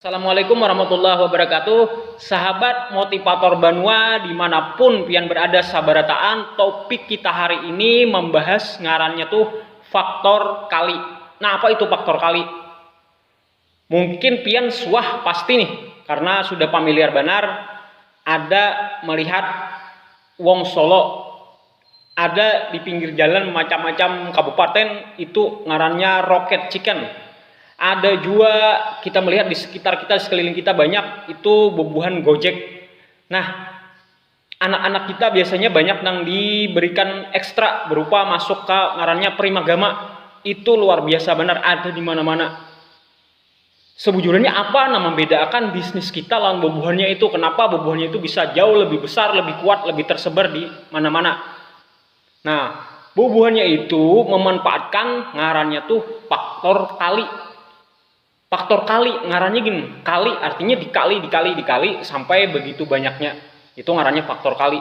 Assalamualaikum warahmatullahi wabarakatuh Sahabat motivator banua dimanapun pian berada sabarataan topik kita hari ini membahas ngarannya tuh faktor kali nah apa itu faktor kali mungkin pian suah pasti nih karena sudah pamiliar banar ada melihat wong solo Ada di pinggir jalan macam-macam kabupaten itu ngarannya rocket chicken. Ada jua kita melihat di sekitar kita, di sekeliling kita banyak itu bubuhan gojek. Nah, anak-anak kita biasanya banyak nang diberikan ekstra berupa masuk ka ngarannya primagama, itu luar biasa banar ada di mana-mana. Sebujurnya apa nang mambedaakan bisnis kita lawan bubuhannya itu, kenapa bubuhannya itu bisa jauh lebih besar, lebih kuat, lebih tersebar di mana-mana. Nah, bubuhannya itu memanfaatkan ngarannya tuh faktor kali. Faktor kali, ngarannya gin, kali artinya dikali, dikali, dikali sampai begitu banyaknya. Itu ngarannya faktor kali.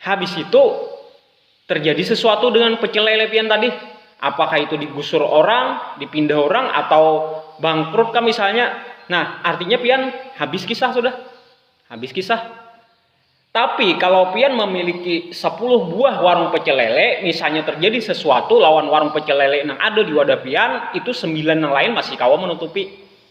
Habis itu terjadi sesuatu dengan pecel lele pian tadi. Apakah itu digusur orang, dipindah orang, atau bangkrut kah misalnya. Nah, artinya pian habis kisah sudah. Habis kisah. Tapi kalau pian memiliki 10 buah warung pecel lele, misalnya terjadi sesuatu lawan warung pecel lele nang ada di wadah pian, itu 9 nang lain masih kawa menutupi.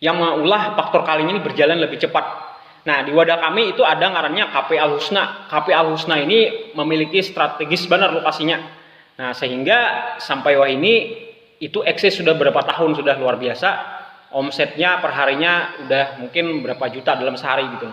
Yang maulah faktor kali ini berjalan lebih cepat. Nah, di wadah kami itu ada ngarannya Cafe Al Husna. Cafe Al Husna ini memiliki strategis banar lokasinya. Nah, sehingga sampai wahini itu eksis sudah berapa tahun sudah luar biasa. Omsetnya perharinya udah mungkin berapa juta dalam sehari gitu.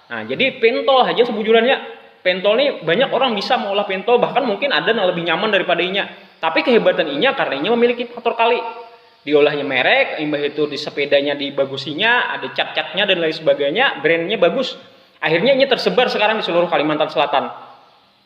Nah, jadi pentol haja sebujurannya. Pentol ni banyak orang bisa mengolah pentol, bahkan mungkin ada yang lebih nyaman daripada inya. Tapi kehebatan inya karena inya memiliki faktor kali. Diolahnya merek, imbah itu di sepedanya dibagusinya, ada cat-catnya dan lain sebagainya, brandnya bagus. Akhirnya inya tersebar sekarang di seluruh Kalimantan Selatan.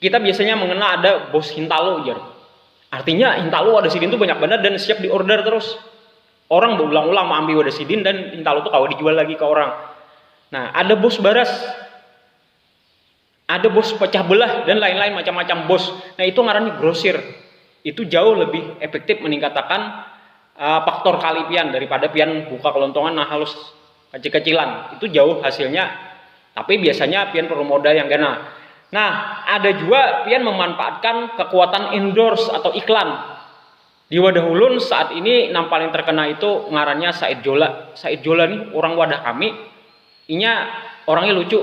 kita biasanya mengenal ada bos Hintalo jar. Artinya Hintalo wadah sidin tuh banyak benar dan siap diorder terus. Orang berulang-ulang mengambil wadah sidin dan Hintalo tuh kawa dijual lagi ke orang. Nah, ada bos baras. Ada bos pecah belah dan lain-lain macam-macam bos. Nah, itu ngarannya grosir. Itu jauh lebih efektif meningkatakan uh, faktor kali pian daripada pian buka kelontongan nah halus Kecil-kecilan, itu jauh hasilnya, tapi biasanya pian perlu modal yang ganal. Nah, ada jua pian memanfaatkan kekuatan endorse atau iklan. Di wadah ulun saat ini nang paling terkena itu ngarannya Said Jola. Said Jola nih urang wadah kami, inya orangnya lucu.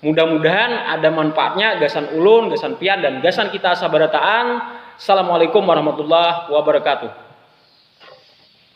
Mudah-mudahan ada manfaatnya gasan ulun, gasan pian, dan gasan kita sabarataan. Assalamualaikum warahmatullahi wabarakatuh.